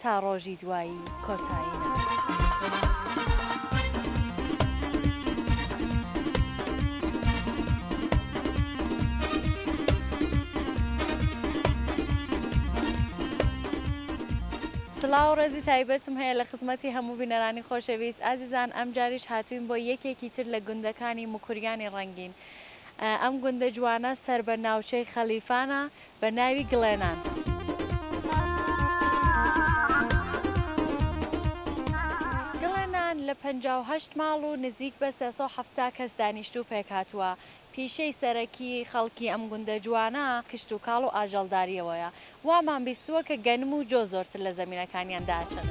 تا ڕۆژی دوایی کۆتایی نەبێت. سڵاو و ڕێزی تایبەتم هەیە لە خزمەتی هەموو بینەرانی خۆشەویست ئازیزان ئەمجاریش هاتووین بۆ یەکێکی تر لە گوندەکانی موکریانی ڕەنگین ئەم گوندە جوانە سەر بە ناوچەی خەلیفانە بە ناوی گڵێنان. گڵێنان لە پەنجا و هەشت ماڵ و نزیک بە سێ سەد و حەفتا کەس دانیشتوو پێکهاتووە، پیشەی سەرەکی خەڵکی ئەم گوندە جوانە کشتوکاڵ و ئاژەڵدارییەوەیە، وامان بیستووە کە گەنم و جۆ زۆرتر لە زەمینەکانیان داچنن.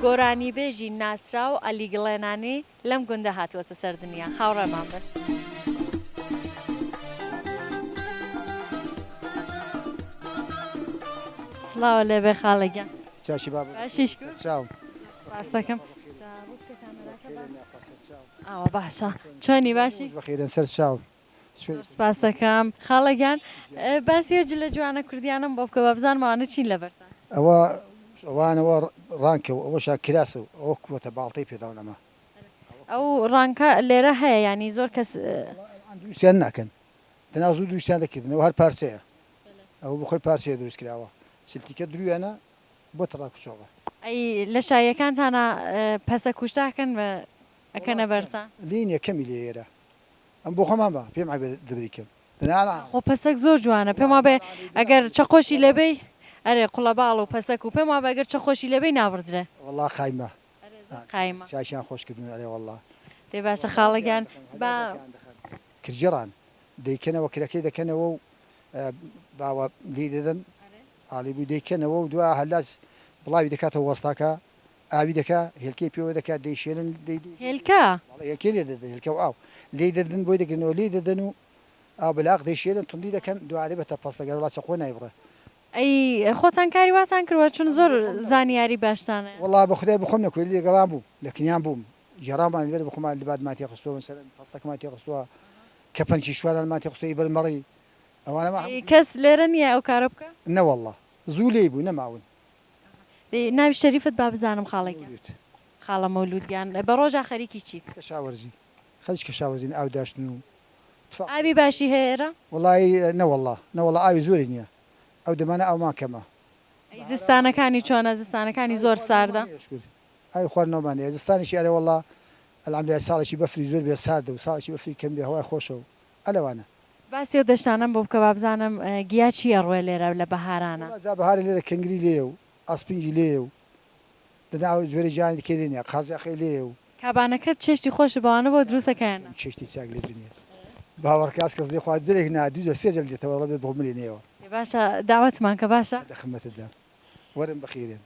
گۆرانیبێژی ناسراو عەلی گڵێنانی لەم گوندە هاتووەتە سەر دنیا. هاوڕێمان بن. سڵاو لێبێ خاڵە گیان چاکی باب باشیش چاو ڕاستەکەم ئەوە باشە چۆنی باشی بەخیرن سەر چاو زۆر سپاست دەکەم خاڵە گیان باسی ئەو جلە جوانە کوردیانەم بۆ بکە با بزانم ئەوانە چین لە بەرتان. ئەوە ئەوانە وە ڕانکە و ئەوەشە کراسە و ئەوە کووەتە باڵتەی پێ داون ئەمە. ئەو ڕانکە لێرە هەیە یانی زۆر کەس. ئەوان دروستیان ناکەن دەنا زوو دروستیان دەکردن ئەوە هەر پارچەیە ئەوە بەخۆی پارچەیە دروست کراوە چلتیکە درویانە بۆ تەڕا کوچۆڵە. ئەی لە شاییەکانتانا پەسە کوشت ئاکەن و ئەکەنە بەرتان. لێی نیە کەمی لێیەرە ئەم بۆ خۆمان بە پێم عەیبە دەبری کەم بنالا. خۆ پەسەک زۆر جوانە پێم وابێ ئەگەر چەقۆشی لێ بەی ئەرێ قوڵەباڵ و پەسەک و پێم وابێ گەر چەقۆشی لێ بەی نابڕدرێ. وەڵا قایمە ئەرێ زۆر قایمە. چاکیان خۆش کردوون ئەرێ وەڵا. دەی باشە خاڵە گیان با. کرجڕان دەیکەنەوە کرەکەی دەکەنەوە و باوە لێی دەدەن ئالی بووی دەیکەنەوە و دوا هەلاس بڵاوی دەکاتەوە وەستاکە ئاوی دەکا هێلکەی پێوە دەکا دەیشێلن دەی هێلکە؟ بەڵێ هێلکەی لێ دەدەن هێلکە و ئاو لێی دەدن بۆی دەگرنەوە لێی دەدەن و ئاو بە لاق دەیشێلن توندی دەکەن دوارێ بە تەپەس دەگەن وەڵا چەقۆ نایبڕێ. ئەی خۆتان کاری واتان کردوە چون زۆر زانیاری باشتان هەیە. وەڵا بە خودای بە خۆم نە کوێری لەگەڵان بووم لە کنیان بووم گێڕانمان لێرە بە خۆمان لباتمان تێ خستوە مەسەلەن پەستەکمان تێ خستوە کەپنکی شوانانمان تێ خستوە ئی بەر مەڕی ئەوانەمان هەموو. ئەی کەس لێرە نیە ئەو کارە بکا؟ نەوەڵا زوو لێی بوو نەماون ناوی شەریفت با بزانم خاڵە گیان. مەولود. خاڵە مەولود گیان بە ڕۆژا خەریکی چیت؟ کەشاوەرزی. خەریکی کەشاوەرزین ئاو داشتن و تفا. ئاوی باشی هەیە ئێرە؟ وەڵایی نەوەڵا نەوەڵا ئاوی زۆری نیە ئەو دەمانە ئاومان کەمە. ئەی زستانەکانی چۆنە زستانەکانی زۆر ساردە؟ ئاوی خواردنەوەمان هەیە شکور. ئاوی خواردنەوەمان هەیە زستانیشی ئەرێوەڵا الحمدللە ساڵێکی بەفری زۆر بێ ساردە و ساڵێکی بەفری کەم بێ هەوای خۆشە و ئە لەوانە. باسی ئەو دەشتانەم بۆ بکە بابزانم گیا چی ئەڕوێ لێرە لە بەهارانە. وەڵا جا بەهارە لێرە کەنگری لێیە و ئاسپنگی لێیە و دەنا ئەو جۆرە گیانی دیکەی لێ نیە قازیاخەی لێیە و. کابانەکەت چێشتی خۆشە بەوانە بۆ دروستە کەیانە. ئەم چێشتی چاک لێ دنیە باوەڕکە ئەز کەس لێ خوا درێک نا دوو جە سێ جە لێ دێتە وە ڵە بێ بڕملێ نێوە. ئێ باشە داوەتمان کە باشە. دە خمەتت دام وەرن بخیرێن.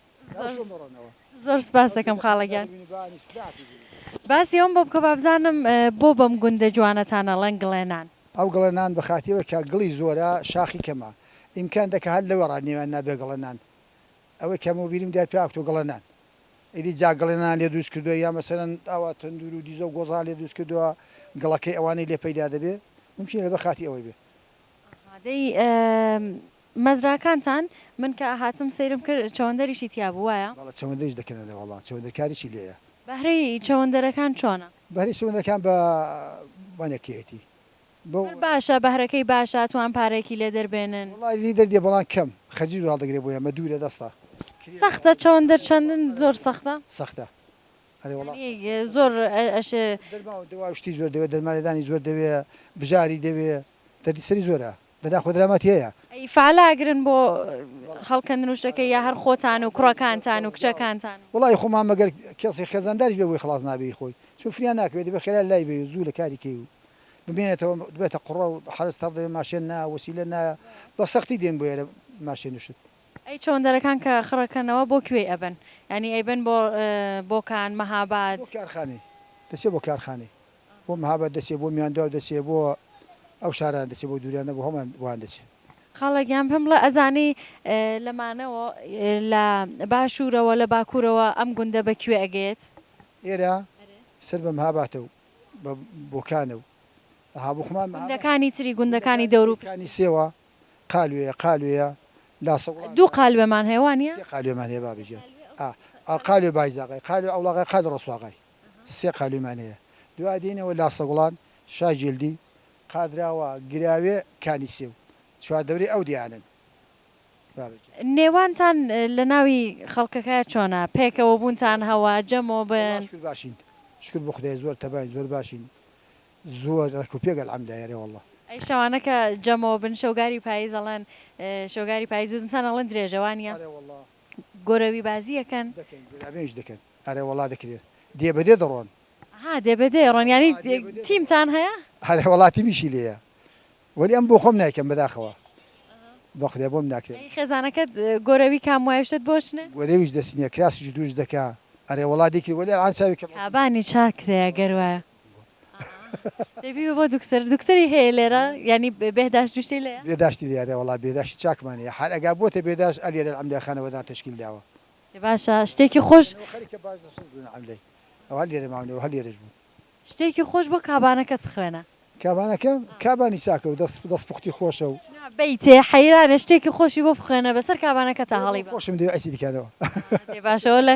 زۆر سپاس دەکەم خاڵە گیان. باسی ئەوم بۆ بکە با بزانم بۆ بەم گوندە جوانەتان ئەڵێن گڵێنان؟ ئەو گڵێنان بە خاتری ئەوەی کە گڵی زۆرە شاخی کەمە ئیمکان دەکا هەر لەوێڕا نێویان نابێ گڵێنان ئەوەی کە مۆ بیرم دیار پێاکتۆ گڵێنان ئیدی جا گڵێنان لێ دروست کردوە یا مەسەلەن ئاوا تەندور و دیزە و گۆزان لێ دروست کردوە گڵەکەی ئەوانەی لێ پەیدا دەبێ ممکینە لەبەر خاتری ئەوەی بێ. ئەها دەی مەزراکانتان، من کە هاتم سەیرم کرد چەوەندەریشی تیا بوو وایە؟ بەڵێ چەوەندەریش دەکەنە لێ وەڵا چەوەندەر کاریشی لێیە. بەهرەی چەوەندەرەکان چۆنە؟ بەهرەی چەوەندەرەکان بە بەنەکێتی بە. هەر باشە بەهرەکەی باشە توان پارەیەکی لێ دەربێنن؟ وەڵا لی دەردێ بەڵام کەم خەجیر هەڵدەگرێ بۆیە مە دوورە دەستە. سەختە چەوەندەر چەندن زۆر سەختە؟ سەختە ئەرێ وەڵا سەختە. یانی زۆر ئەشێ. دەرمان و دەوا و شتی زۆر دەوێ دەرمانلێدانی زۆر دەوێ بژاری دەوێ دەردی سەری زۆرە. دەدا خۆ درامات هێیە. ئەی فەعەلا ئەگرن بۆ هەڵکەندن و شتەکەی یا هەر خۆتان و کوڕەکانتان و کچەکانتان. وەڵایی خۆمان مەگەر کەسی خێزانداریش بێ بۆی خڵاس نابێ هی خۆی چون فریا ناکەوێ دەبێ خێرا لای بێی و زوو لە کاری کەی و بمێنێتەوە دبێتە قوڕە و حەرەس تەڕ دەبێ ماشێن نایە وەسیلە نایە بە سەختی دێن بۆ ئێرە ماشێن و شت. ئەی چەوەندەرەکان کە خڕەکەنەوە بۆ کوێی ئەبەن یانی ئەیبەن بۆ بۆکان مەهاباد. بۆ کارخانەی دەچێ بۆ کارخانەی. بۆ مەهاباد دەچێ بۆ میاندواو دەچێ بۆ ئەو شارانە دەچێ بۆ دوریانە بۆ هەموان بۆیان دەچێ. خاڵە گیان پێم بڵێ ئەزانی لە مانەوە لە باشورەوە لە باکورەوە ئەم گوندە بە کوێ ئەگەێت؟ ئێرە سەر بە مەهاباتە و بە بۆکانە و ئەها بۆ خۆمان مەهاباد. گوندەکانی تری گوندەکانی دەور و پشت. گوندەکانی سێوە قالوێیە قالوێیە لا سەوڵان. دوو قالوێمان هەیە وانیە؟ سێ قالوێمان هەیە بابە گیان ئا قالوێ بایزاغای قالوێ ئەوڵاغای قالوێ ڕەسواغای. سێ قالویمان هەیە دوا دێینەوە لاسەگوڵان، شا جیلدی، قادراوا، گراوێ، کانی سێو چوار دەورەی ئەو دێیانەن بابەکێ. نێوانتان لە ناوی خەڵکەکە چۆنە؟ پێکەوە بوونتان هەوە؟ جەمۆ وەڵا بن؟ شکر باشین شکر بۆ خودای زۆر تەباین زۆر باشین زۆر ڕێک و پێک الحمدای ئەرێ وەڵا. ئەی شەوانە کە جەمۆ بن شەوگاری پایز ئەڵێن شەوگاری پایز و زمسان ئەڵێن درێژە وانیە؟ ئەرێ وەڵا. گۆرەوی بازی ئەکەن؟ دەکەین گوراوێنیش دەکەن. ئەرێ وەڵا دەکرێ دێ بەدێ دەڕۆن. ها دێ بەدێ ئەڕۆن یانی تیمتان هەیە؟ ئەرێ وەڵا تیمیشی لێیە وەلی ئەم بۆخۆم نایکەم بەداخەوە بەخودای بۆم ناکرێ. ئەی خێزانەکەت گۆرەوی کام وایە شتت بۆ ئەچنێ؟ گۆرەویش دەسی نیە کراس جدوش دەکا. ئەرێ وەڵا دەیکرێ وەلی ئەلعان چاوی کەمە. کابانی چاک کرێ گەر وایە. دەی بیبە بۆ دوکتور. دوکتوری هەیە لێرە یانی بێهداشت وشتی لێیە؟ بێداشتی لێیە ئەرێ وەڵا بێداشتی چاکمان هەیە حال ئەگا بۆتە بێداشت ئەلێرە العملیا خانەوەدان تەشکیل داوە. باشە شتێکی خۆش. شتێکی خۆش بۆ کابانەکەت بخوێنە. کابانەکەم کابانی چاکە و دەست پوختی خۆشە و. نا بەیتێ حەیرانە شتێکی خۆشی بۆ بخوێنە بەسەر کابانەکەتا هەڵی بەم. خۆشم دەوێ عەیسی دکانەوە. دەی باشە وەلا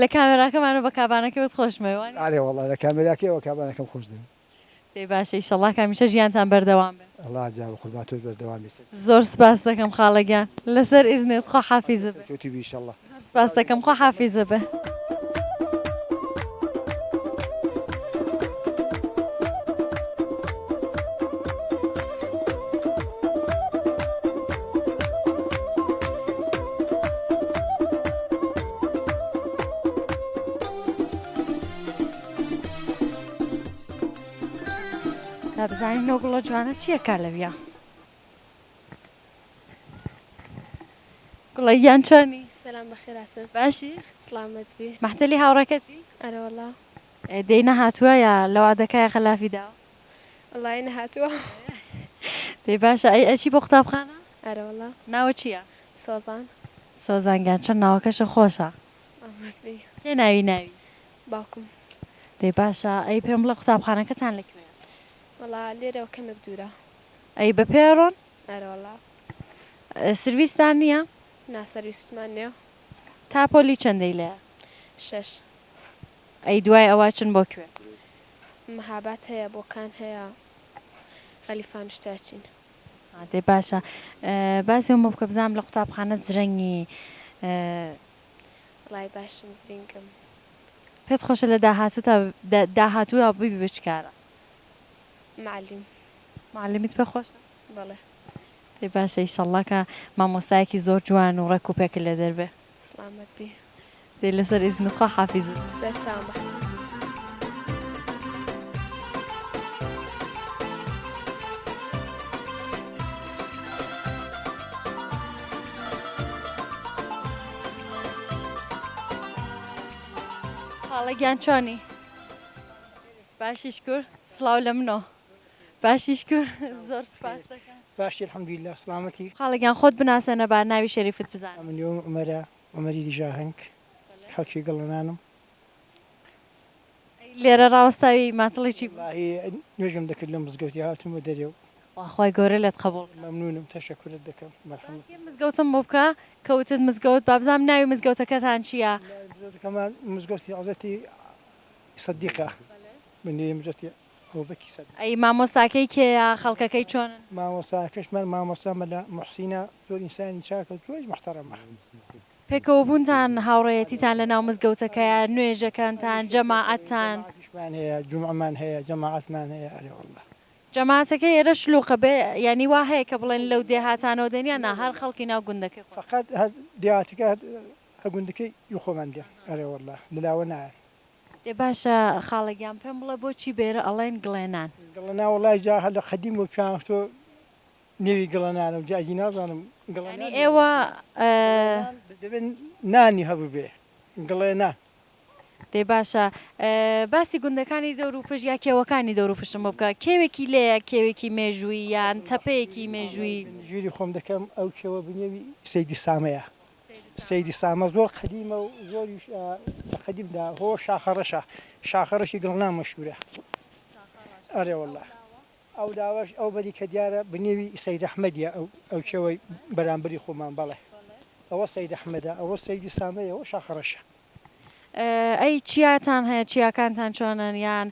لە کامێراکەمانەوە بە کابانەکەوت خۆشمەوێ وانیە. ئەرێ وەڵا لە کامێراکەیەوە کابانەکەم خۆش دەوێ. دەی باشە ئیشەڵا کە هەمیشە ژیانتان بەردەوام بێ. ئەڵا جا بەقوربان تۆش بەردەوام بی سەرکەوتوبی. زۆر سپاست دەکەم خاڵە گیان لەسەر ئیزنت خوا حافیزە بێ. سەرکەوتوبی ئیشەڵا. زۆر سپاست دەکەم خوا حافیزە بێ. با بزانین ئەو گوڵە جوانە چییە کا لەویا گوڵە گیان چۆنی سلام بەخێراتن باشی سلامت بی مەحتەلی هاوڕەکەتی ئەرەوەڵا دەی نەهاتووە یا لەوا دەکای غەلافی داوە وڵی نەهاتووە دەی باشە ئەی ئەچی بۆ قوتابخانە ئەرەوەڵا ناوە چییە سۆزان سۆزانگیان چەند ناوەکەشە خۆشە ئامەد بی. کێ ناوی ناوی. باوکم. دەی باشە ئەی پێم بڵێ قوتابخانەکەتان لە کوێیە. وەڵا لێرەوە کەمێک دوورە. ئەی بە پێ ئەڕۆن؟ ئەرە وەڵا. سرویستان نییە؟ نا سرویستمان نییە. تا پۆلی چەندەی لێە؟ شەش. ئەی دوای ئەوە ئەچن بۆ کوێ؟ مهاباد هەیە، بۆکان هەیە، غەلیفانوشتە ئەچین. دەی باشە باسی ئەومە بکە بزانم لە قوتابخانە زرەنگی؟ وەڵای باشم زرینگم. پێت خۆشە لە داهاتووتا داهاتووە ببی بە چ کارە؟ معلم. معلمیت پێ خۆشە؟ بەڵێ. دەی باشە ئیشەڵڵا کە مامۆستایەکی زۆر جوان و ڕێک و پێکت لێ دەربێ. سڵامەت بی دەی لەسەر ئیزن خوا حافیز. سەرچاوم بە حەفیز. خاڵە گیان چۆنی باشی شکور سڵاو لە منۆ. باشی شکور زۆر سوپاست دەکەم. باشی الحمدللە سڵامەتی. خاڵە گیان خۆت بناسەنە با ناوی شەریفت بزانم. من نێوم عومەرە عومەری دژاهەنگ خەڵکی گڵەنانم. ئەی لێرە ڕاوەستاوی ماتڵی چی بوو؟ وەڵاهی نوێژم دەکرد لە مزگەوتی هاتومە دەرێ و. خوا خوای گەورە لێت قەبوڵ کا. مەمنونم تەشەکورت دەکەم مەرحەمەت. باسی مزگەوتم بۆ بکە کە وتت مزگەوت با بزانم ناوی مزگەوتەکەتان چیە؟ ناوی مزگەوتەکەمان مزگەوتی حەزرەتی سدیقە بە نێوی مزگەوتی ئەوە بە کیسە بێ. ئەی مامۆستاکەی کێیە خەڵکەکەی چۆنن؟ مامۆستاکەش من مامۆستا مەلا موحسینە زۆر ئینسانی چاکە زۆریش محتەرەمە. پێکەوەبوونتان هاوڕێیەتیتان لەناو مزگەوتەکەیە نوێژەکانتان جەماعەتتان. جەماعەتیشمان هەیە جومعەمان هەیە جەماعەتمان هەیە ئەرێ واللە. جەماعەتەکەی ئێرە شلوقە بێ یانی وا هەیە کە بڵێن لەو دێهاتانەوە دێن یان نا هەر خەڵکی ناو گوندەکەی خۆتان. فەقەت هەر دێهاتەکە هەر گوندەکەی خۆمان دێن ئەرێ واللە لەلاوە نایەن. ئێ باشە خاڵە گیان پێم بڵێ بۆچی بێرە ئەڵێن گڵێنان؟ گڵنا وەڵای جا هەر لە قەدیمەوە پێیان وتوە نێوی گڵنانە و جا ئیدی نازانم گڵنان یانی ئێوە گڵێنان دەبێ نانی هەبووبێ گڵێنان. دەی باشە باسی گوندەکانی دەور و پشت یا کێوەکانی دەور و پشتم بۆ بکە کێوێکی لێیە کێوێکی مێژووی یان تەپەیەکی مێژووی؟ ژووری خۆم دەکەم ئەو کێوە بنێوی سەیدی سامەیە. سەیدی سامە زۆر قەدیمە و زۆریش لە قەدیمدا هۆ شاخە ڕەشە شاخە ڕەشی گڵناو مەشهوورە ئەرێ وەڵا ئەو لاوەش ئەو بەری کە دیارە بنێوی سەید ئەحمەدیە ئەو ئەو چێوەی بەرامبەری خۆمان بەڵێ ئەوە سەید ئەحمەدە ئەوە سەیدی سامەیە ئەوە شاخە ڕەشە ئەی چیاتان هەیە چیاکانتان چۆنن یان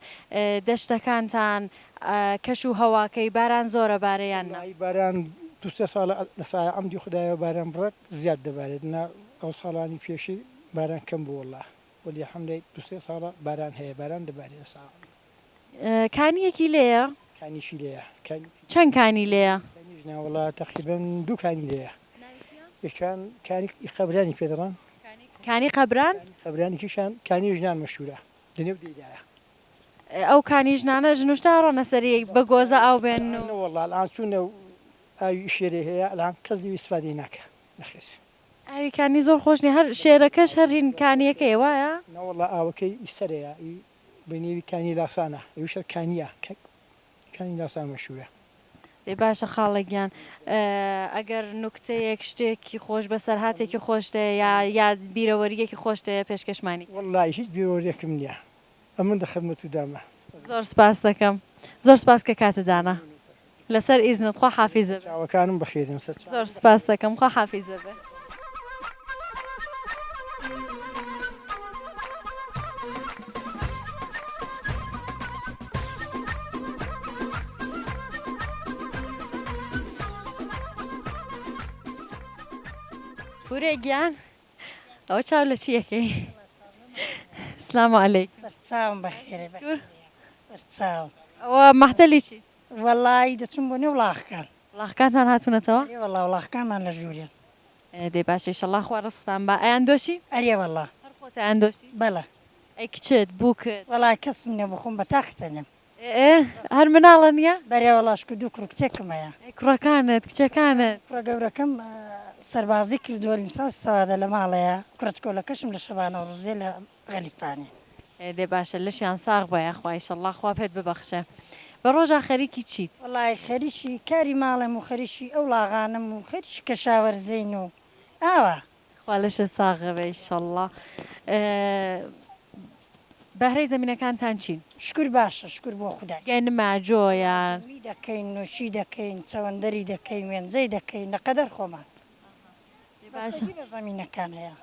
دەشتەکانتان کەش و هەواکەی باران زۆرە بارە یان نا؟ وەڵاهی باران دوو سێ ساڵە لە سایە عەمدی خودایەوە باران بڕەک زیاد دەبارێت نا ئەو ساڵانی پێشی باران کەم بوو وەڵا وەلی حەمدەی دوو سێ ساڵە باران هەیە باران دەبارێ لە سایە عەمدی. کانیەکی لێیە؟ کانیشی لێیە. چەند کانی لێیە؟ کانیش نا وەڵا تەقریبەن دوو کانی لێیە. ناوی چیە؟ یەکیان کانی ئی قەبرانی پێ دەڵێن. کانی قەبران؟ قەبران یەکیشیان کانی ژنان مەشهوورە لە نێو دێیدایە. ئەو کانی ژنانە ژن و شت ئەڕۆنە سەری بە گۆزە ئاو بێنن و. نە وەڵا ئەڵان چوونە و ئاوی شێرێ هەیە ئەڵان کەس لێوی ئیسفادەی ناکا نەخێر. ئاوی کانی زۆر خۆش نیە هەر شێرەکەش هەر هین کانیەکەیە وایە؟ نە وەڵا ئاوەکەی ئی سەرەیە ئی بە نێوی کانی لاسانا یوشە کانیا کانی لاسان مەشورە. ئێ باشە خاڵە گیان ئەگەر نوکتەیەک شتێکی خۆش بەسەرهاتێکی خۆشت هەیە یا یا بیرەوەرییەکی خۆشت هەیە پێشکەشمانی کە. وەڵڵا هیچ بیرەوەرییەکم نییە ئەمن دە خدمەتوو دامە. زۆر سپاس دەکەم زۆر سپاس کە کاتت دانا. لەسەر ئیزنت خوا حافیزە بێ. چاوەکانم بخیرن سەر چاوت. زۆر سوپاست دەکەم خوا حافیزە بێ. هورێ گیان ئەوە چاو لە چی ئەکەی. سلام علیک. سەرچاوم بەخێرێ بەخێرێ سەرچاوم. ئەوە مەحتەلی چیت؟ وەڵای دەچووم بۆ نێو وڵاخکان. وڵاخکانتان هاتوونەتەوە؟ ئەرێ وەڵا وڵاخکانمان لە ژوورێن. دەی باشە ئیشەڵا خوا ڕزقتان با. ئەیاندۆشی؟ ئەرێ وەڵا. هەر خۆت ئەیاندۆشی؟ بەڵێ. ئەی کچت؟ بووکت؟ وەڵا کەسم نیە بۆ خۆم بە تاقی تەنیام. ئێ هەر مناڵە نیە؟ بەرێ وەڵا شکو دوو کوڕو کچێکم هەیە. ئەی کوڕەکانت؟ کچەکانت؟ کوڕە گەورەکەم سەربازی کردووە لینسانسی سەوادە لە ماڵەیە. کوڕە چکۆلەکەشم لە شەبانەوە ڕزیە لە غەریبانی. دەی باشە لەشیان ساغ بە یاخوا ئیشەڵا خوا پێت ببەخشێ بە ڕۆژا خەریکی چیت؟ وەڵا خەریکی کاری ماڵێم و خەریکی ئەو ڵاغانەم و خەریکی کەشاوەرزین و ئاوا. خوا لەشت ساغ بێ ئیشەڵا. بەهرەی زەمینەکانتان چین؟ شکور باشە شکور بۆ خودا. گەنمە، جۆیان. گەنمی دەکەین نووکی دەکەین چەوەندەری دەکەین وێنجەی دەکەین لە قەدەر خۆمان. بەستەگی بە زەمینەکان هەیە.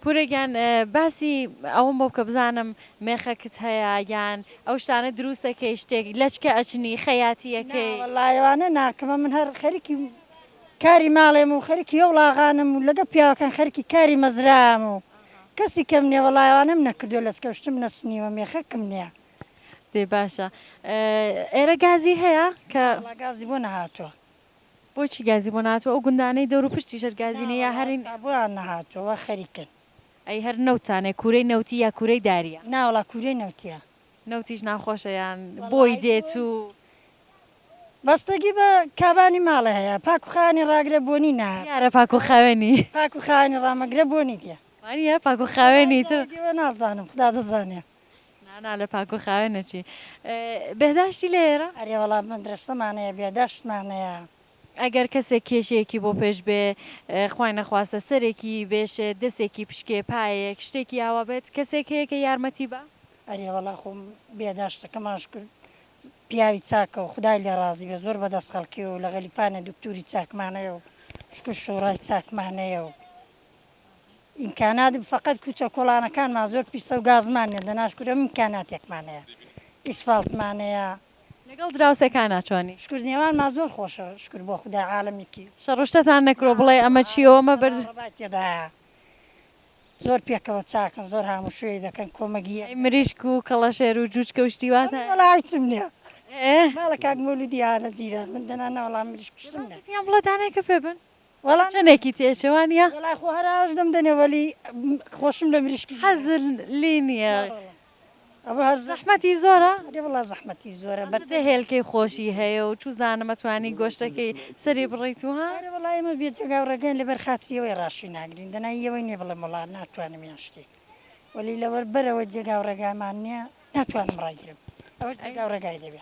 پورە گیان باسی ئەوەم بۆ بکە بزانم مێخەکت هەیە یان ئەو شتانە دروستەکەی شتێک لەچکە ئەچنی خەیاتیەکەی. ناوەڵا ئەوانە ناکەمە من هەر خەریکی کاری ماڵێم و خەریکی ئۆڵاغانم و لەگەڵ پیاوەکان خەریکی کاری مەزرام و کەسی کەم نیە وەڵا ئەوانەم نەکردوە لەچکەو شتم نەچنیوە مێخەکم نیە. دەی باشە ئێرە گازی هەیە کە. ناوەڵا گازی بۆ نەهاتوە. بۆچی گازی بۆ نەهاتوە ئەو گوندانەی دەورو پشتی ژەر گازی نیە یا هەرین. ناوەڵا ئەستا بۆیان نەهاتوە وا خەریکن. ئەی هەر نەوتتانەیە کوورەی نەوتی یا کوورەی داریە. ناوەڵا کوورەی نەوتیە. نەوتیش ناخۆشە یان بۆی دێت و. بەستەگی بە کابانی ماڵێ هەیە پاک و خاوێنی ڕاگرێ بۆنی نایە. دیارە پاک و خاوێنی. پاک و خاوێنی ڕامەگرێ بۆنی دێ. وانیە پاک و خاوێنی تر. وەڵا ئەوە دیوە نازانم خودا دەزانێ. نانا لە پاک و خاوێن ئەچی. بێهداشتی لە ئێرە؟ ئەرێ وەڵا مەدرەسەمان هەیە بێهداشتمان هەیە. ئەگەر کەسێک کێشەیەکی بۆ پێش بێ خوای نەخواستە سەرێکی بێشێت دەسێکی پشکێ پایەیەک شتێکی ئاوا بێت کەسێک هەیە کە یارمەتی با؟ ئەرێ وەڵا خۆ بێهداشتەکەمان شکر پیاوی چاکە و خودای لێ ڕازی بێ زۆر بەدەست خەڵکیە و لە غەلیفانە دوکتوری چاکمان هەیە و شکر شوڕای چاکمان هەیە و. ئیمکانات فەقەت کوچە کۆڵانەکانمان زۆر پیسە و گازمان نیە دەناش کورە ئیمکاناتێکمان هەیە ئیسفاڵتمان هەیە. لەگەڵ دراوسێکانا چۆنی؟ شکور نێوانمان زۆر خۆشە شکور بۆ خودا عالەمی کی. شەڕوشتتان نەکرۆ بڵێ ئەمە چیە و ئەمە بەرد. بابا بابای تێدایە زۆر پێکەوە چاکن زۆر هاموشۆێی دەکەن کۆمەگی یەک دەکەن. ئەی مریشک و کەڵەشێر و جوجکە و شتی وا تان. وەڵا هیچم نیە ماڵە کاک مولودی هانە جیران من دەنا ناوەڵا مریشک و شتم نیە. پێیان بڵێ دانێکە پێ بن. وەڵا چەنێکی تێچێ وانیە؟ وەڵا خۆ هەر ئاوش دەم دەنێ وەلی خۆشم لە مریشکی نیە حەزل لی نیە ئەوە هەر زەحمەتی زۆرە؟ ئەرێ وەڵا زەحمەتی زۆرە بە دە هێلکەی خۆشی هەیە و چوزانم ئەتوانی گۆشتەکەی سەری بڕیت و ها؟ ئەرێ وەڵا ئێمە بێ جەگا و ڕێگاین لەبەر خاتری ئەوەی ڕاشی ناگرین دەنا ی ئەوەی نیە بڵێم وەڵا ناتوانم یان شتێک وەلی لەوەر بەرئەوە جێگا و ڕێگامان نیە ناتوانم ڕاگرم ئەوەش جێگا و ڕێگای دەوێ.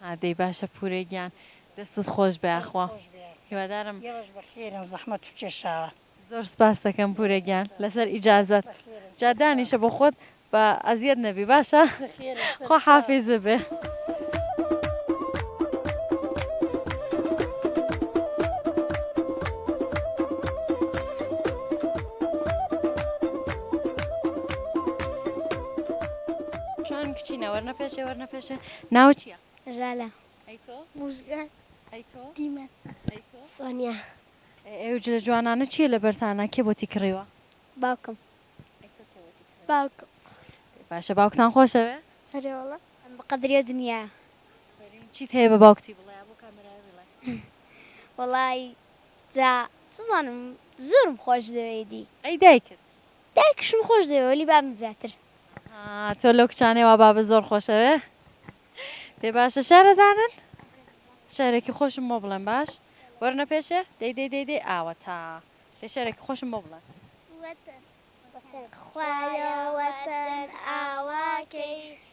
ها دەی باشە پورە گیان دەستت خۆش بە یاخوا هیوادارم ئێوەش بەخێرن زەحمەتو کێشاوە. زۆر سپاستەکەم پورە گیان لەسەر ئیجازەت جا دانیشە بۆ خۆت با ئەزیەت نەبی باشە خوا حافیزە بێ. باشە ناوت چیە؟ ژالە ئەی تۆ؟ موژگان ئەی تۆ؟ دیمەن ئەی تۆ؟ سۆنیا ئەی ئەو جلە جوانانە چیە لەبەرتانە کێ بۆتی کڕیوە؟ باوکم ئەی تۆ کێ بۆتی کڕیوە؟ باوکم دەی باشە باوکتان خۆشەوێ؟ ئەرێ وەڵا ئەم بەقەدری ئەو دنیایە. ئافەرین چیت هەیە بە باوکتی بڵێ بۆ کامێرایە بیڵێ. وەڵای جا چزانم زۆرم خۆشدەوێیدی. ئەی دایکت؟ دایکشم خۆش دەوێ وەلی بابم زیاتر. ها تۆ لەو کچانەی وا بابت زۆر خۆشەوێ دەی باشە شارەزانن شعرێکی خۆشم بۆ بڵێن باش وەرنە پێشێ دەی دەی دەی دەی ئاوەتا دەی شعرێکی خۆشم بۆ بڵێن. وەتەن خوایە وەتەن ئاوا کەی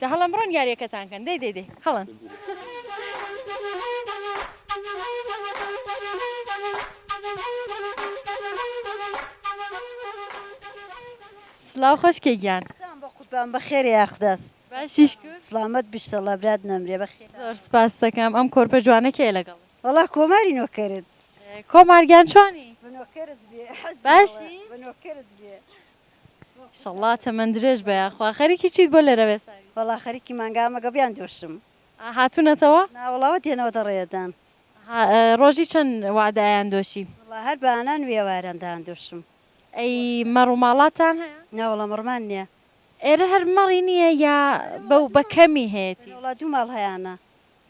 جا هەڵەن بڕۆن یاریەکەتان کەن دەی دەی دەی هەڵەن. سڵاو خۆشکێ گیان بەقوربان بەخێر یاخداس باشیش سلامت بشتەڵە برات نەمرێ بەخێر زۆر سپاس دەکەم ئەم کۆرپە جوانە کێ لەگەڵ وەڵا کۆماری نۆکەرت کۆمارگیان چۆنی باشی ئیشەڵڵا تەمەن درێژ بە یاخوا. خەریکی چیت بۆ لەرەوێساوی؟ وەڵا خەریکی مانگامە گەویان دۆشم. ئا هاتونەتەوە؟ نا وەڵا وەت یەنەوە دە ڕێ دان. ئەها ڕۆژی چەن وەعدە ئەیان دۆشی؟ وەڵا هەر بە ئانان وی ئەواران دان دۆشم. ئەی مەڕ و ماڵاتتان هەیە؟ نا وەڵا مەڕمان نیە. ئێرە هەر مەڕی نیە یا بەو بە کەمی هەیەتی؟ وەڵا دوو ماڵ هەیانە.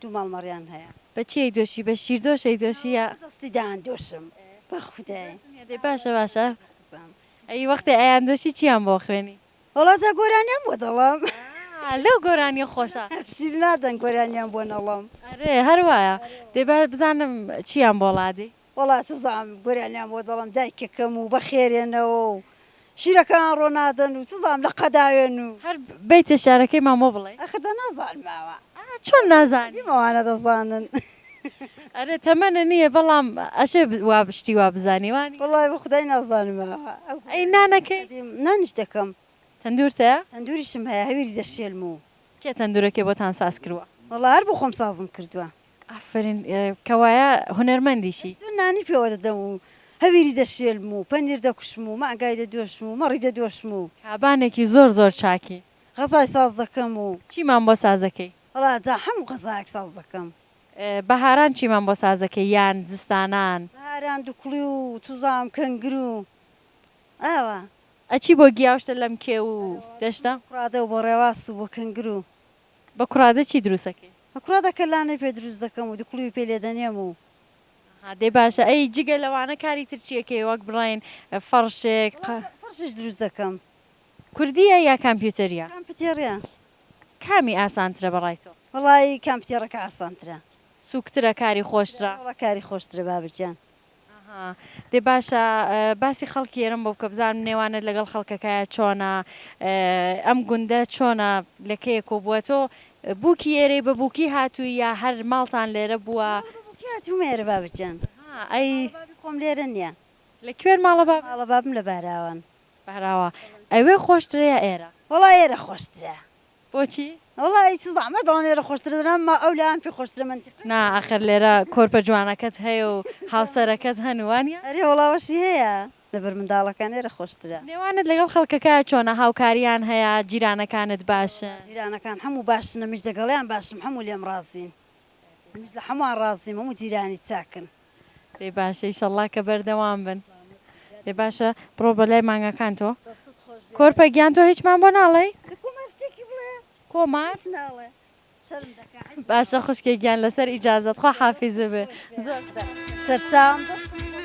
دوو ماڵمەڕیان هەیە. بە چیەک دۆشی بە شیر دۆشەک دۆشی یا بە دەستی دان دۆشم بە خودای. دەی باشە باشە ئەی وەختێ ئەیان دۆشی چیان بۆ ئەخوێنی. وەڵا جا گۆرانیان بۆ دەڵێم. ئا لەو گۆرانیە خۆشە. شیر نادەن گۆرانیان بۆ نەڵێم. ئەرێ هەر وایە دەی با بزانم چیان بۆ ڵادەی. وەڵا چزام گۆرانیان بۆ دەڵێم دایکەکەم و بەخێرێنەوە و شیرەکان ڕۆنادەن و چزام لە قەداوێن و. هەر بەیتە شارەکەیمان بۆ بڵێ. ئەخ دە نازانم ئاوا. ئا چۆن نازانی. دیم ئەوانە دەزانن. ئەرێ تەمەنە نییە بەڵام ئەشێ وا شتی وا بزانی وانیە. وەڵای بە خودای نازانم ئاوا. ئەی نانەکەی؟ نانیش دەکەم. تەندورت هەیە؟ تەندوریشم هەیە هەویری دەشێلم و. کێ تەندورەکەی بۆتان ساز کرووە؟ وەڵا هەر بۆ خۆم سازم کردووە. ئافەرین کەوایە هونەرمەندیشی. چون نانی پێوە دەدەم و هەویری دەشێلم و پەنیر دەکوشم و مەعگای دەدۆشم و مەڕی دەدۆشم و. کابانێکی زۆر زۆر چاکی. غەزای ساز دەکەم و. چیمان بۆ ساز دەکەی؟ وەڵا جا هەموو غەزایەک ساز دەکەم. بەهاران چیمان بۆ ساز دەکەی یان زستانان؟ بەهاران دوکڵی و چوزام کەنگر و ئاوا. ئەچی بۆ گیاوشتە لەم کێو و دەشتە؟ بۆ کوڕادە و بۆ ڕێواس و بۆ کەنگر و. بە کوڕادە چی دروست ئەکەی؟ بە کوڕادە کەلانەی پێ دروست دەکەم و دوکڵیوی پێ لێ دەنێم و. ئەها دەی باشە ئەی جگە لەوانە کاری تر چی ئەکەی وەک بڵێین فەڕشێک قە. وەڵا فەڕشیش دروست دەکەم. کوردییە یا کامپیوتەرییە؟ کامپیوتێڕییە. کامی ئاسانترە بە ڕای تۆ؟ وەڵای کامپیوتێڕەکە ئاسانترە. سووکترە کاری خۆشترە؟ وەڵا کاری خۆشترە بابر گیان. ئاها دەی باشە باسی خەڵکی ئێرەم بۆ بکە بزانم نێوانت لەگەڵ خەڵکەکایە چۆنە ئەم گوندە چۆنە لەکەیە کۆبووە تۆ بووکی ئێرەی بە بووکی هاتووی یا هەر ماڵتان لێرە بووە مێرە بابجان ئەی خۆم لێرە نییە لە کوێن ماڵە باڵە بابم لە بەراوان بەراوە ئەوێ خۆشترە یا ئێرە وڵا ئێرە خۆشترە بۆچی؟ وەڵا ئەی چ زەحمەت بەڵام لێرە خۆشترە دەنا ما ئەو لایان پێ خۆشترە منتیقە. نا ئاخر لێرە کۆرپە جوانەکەت هەیە و هاوسەرەکەت هەن وانیە؟ ئەرێ وەڵا وەشی هەیە لەبەر منداڵەکان لێرە خۆشترە. نێوانت لەگەڵ خەڵکەکە چۆنە هاوکاریان هەیە جیرانەکانت باشن؟ جیرانەکان هەموو باشن ئەمیش دەگەڵیان باشم هەموو لێم ڕازین منیش لە هەمووان ڕازیم هەموو جیرانی چاکن. ئێ باشە ئیشەڵڵا کە بەردەوام بن. ئێ باشە بڕۆ بەلای مانگاکان تۆ. دەستت خۆش بێ. کۆرپە گیان تۆ هیچمان بۆ ناڵێی؟ دە کۆمار شتێکی بڵێ. کۆمار؟ هیچ ناڵێ. شەرم دەکا حیز. باشە خوشکێ گیان لەسەر ئیجازەت خوا حافیز بێ زۆر سەر. سەرچاوم دەستت خۆش.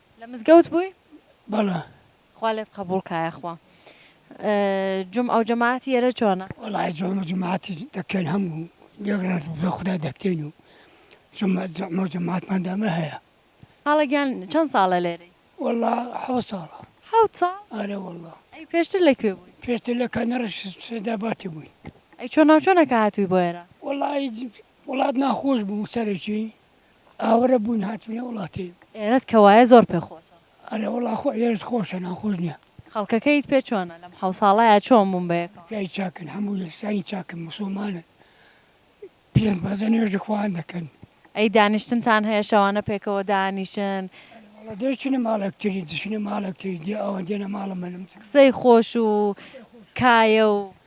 لە مزگەوت بووی؟ بەڵا. خوا لێت قەبووڵ کا یاخوا. جومعە و جەماعەتی ئێرە چۆنە؟ وەڵاهی جومعە و جەماعەتی دەکەین هەموو یەک ڕۆژ بە خودا دەکەین و جومعە و جەماعەتمان دامە هەیە. خاڵە گیان چەند ساڵە لێرەی؟ وەڵا حەوت ساڵە. حەوت ساڵ؟ ئەرێ وەڵا. ئەی پێشتر لە کوێ بووی؟ پێشتر لە کەنەڕی سەیداباتی بووین. ئەی چۆنا و چۆنە کە هاتووی بۆ ئێرە؟ وەڵاهی وڵات ناخۆش بوو سەرەکی. ئاوەرە بووین هاتوینە وڵاتی. ئێرەت کە وایە زۆر پێ خۆشە. ئەرێ وەڵا خۆ ئێرەت خۆشە ناخۆش نیە. خەڵکەکەیت پێ چۆنە؟ لەم حەو ساڵەیا چۆن بوون بە یەکەوە؟ پیاوی چاکن هەموو یەکسانی چاکن موسوڵمانن پێنج بەزە نوێژ لە خۆیان دەکەن. ئەی دانیشتنتان هەیە شەوانە پێکەوە دانیشن؟ وەڵا دەیچنە ماڵ یەکتری دەچنە ماڵ یەکتری دێ ئەوان دێنە ماڵ منم. قسەی خۆش و کایە و.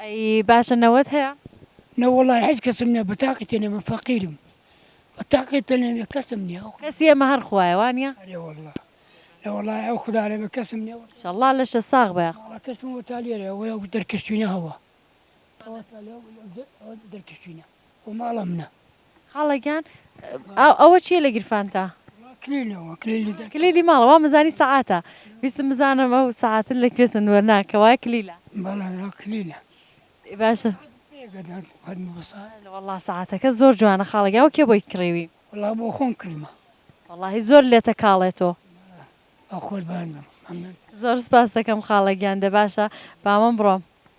ئەی باشە نەوەت هەیە؟ نەوەڵا هیچ کەسم نیە بەتاقی تەنێ من فەقیرم بەتاقی تەنێ من کەسم نیە ئەو کەسی ئێمە هەر خوایە وانیە؟ ئەرێ وەڵا نەوەڵا ئەو خودا لە من کەسم نیە وەڵا. شەڵڵا لەشە ساغ بە یاخوا. ئەڵا کەسم وەتا لێرە ئەوە ئەو دەرکەشتوینە هەوە ئەوە ئەو دەرکەشتوینە ئەو ماڵە منە. خاڵە گیان ئەوە چیە لە گیرفانتا؟ کلیلی ماڵە وا مزانی سەعاتە ویستم بزانم ئەو سەعاتە لە کوێ سندوە نا کە وای کلیلە باشە والله سەعاتەکە زۆر جوانە خاڵگە ئەو کێ بۆی کڕیوی والله بۆ خۆم کڕیمە واللهی زۆر لێتە کاڵێتۆ زۆر سپاس دەکەم خاڵە گیان دە باشە بامەم بڕۆم